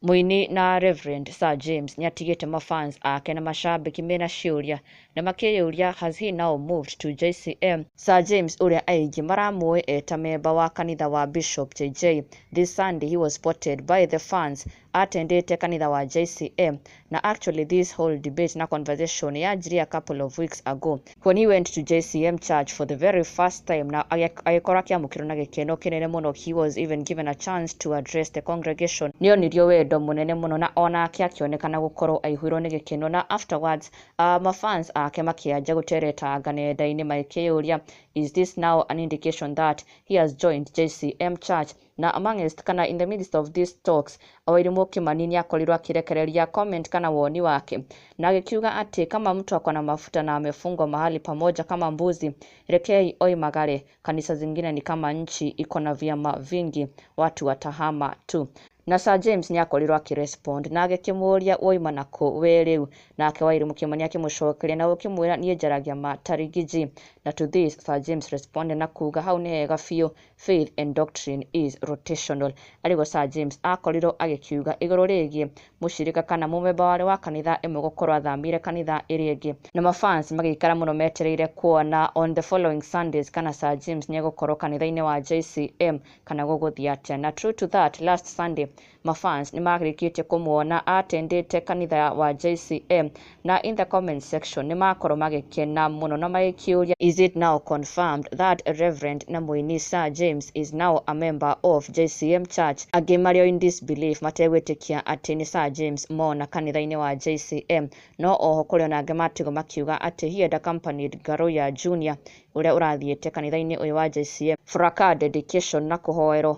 Mũini na Rev. Sir James nĩatigĩte ma fans ake na macambĩki mena ciũria na makĩyũria has he now moved to JCM? Sir James ũrĩa aingĩ maramũĩ eta memba wa kanitha wa Bishop JJ, this Sunday he was spotted by the fans atendĩte kanitha wa JCM Na actually this whole debate na conversation yanjirie a couple of weeks ago when he went to JCM church for the very first time na agĩ- agĩkorwo akĩamũkĩrwo na gĩkeno kĩnene mũno he was even given a chance to address the congregation nĩ onirio wendo mũnene mũno na onake akĩonekana gũkorwo aihũirwo nĩ gĩkeno na afterwards uh, mafans ake makĩanjia gũteretanga nenda-inĩ magĩkĩyũria is this now an indication that he has joined JCM church Na amongst kana in the midst of these talks, o Wairimu Kĩmani nĩakorirwo akĩrekereria comment kana woni wake, na agĩkiuga atĩ kama mtu ako na mafuta na amefungwa mahali pamoja kama mbuzi, rekeei oi magare, kanisa zingine ni kama nchi iko na vyama vingi, watu watahama tu. Na Sir James nĩakorirwo akĩrespond na agĩkĩmũũria wauma na kũ wee rĩu? Nake Wairimu Kĩmani akĩmũcokeria na gũkĩmwĩra niĩ njaragia ma Tarigiji. Na to this Sir James responded na kuuga hau nĩ hega biũ, Faith and Doctrine is Rotational, arĩ guo Sir James aakorirũo agĩkiuga igũrũ rĩgiĩ mũcirika kana mũmemba warĩ wa kanitha ĩmwe gũkorũo athamĩire kanitha ĩrĩa ĩngĩ. Na ma fans magĩikara mũno metereire kuona on the following Sundays kana Sir James nĩ egũkorũo kanitha-inĩ wa JCM kana gũgũthiĩ atĩa. Na true to that, last Sunday ma fans nĩmarĩkĩtie kũmuona atendete kanitha wa JCM na in the comment section nĩmakorwo magĩkena mũno na magĩkĩũria is it now confirmed that Reverend na mũini Sir James is now a member of JCM church angĩ marĩ o in disbelief mategwĩtĩkia atĩ nĩ Sir James mona kanitha-inĩ wa JCM no oho kũrĩ ona angĩ matigwo makiuga atĩ he had accompanied Garoya Junior ũrĩa ũrathiĩte kanitha-inĩ ũyũ wa JCM for a car dedication na kũhoerwo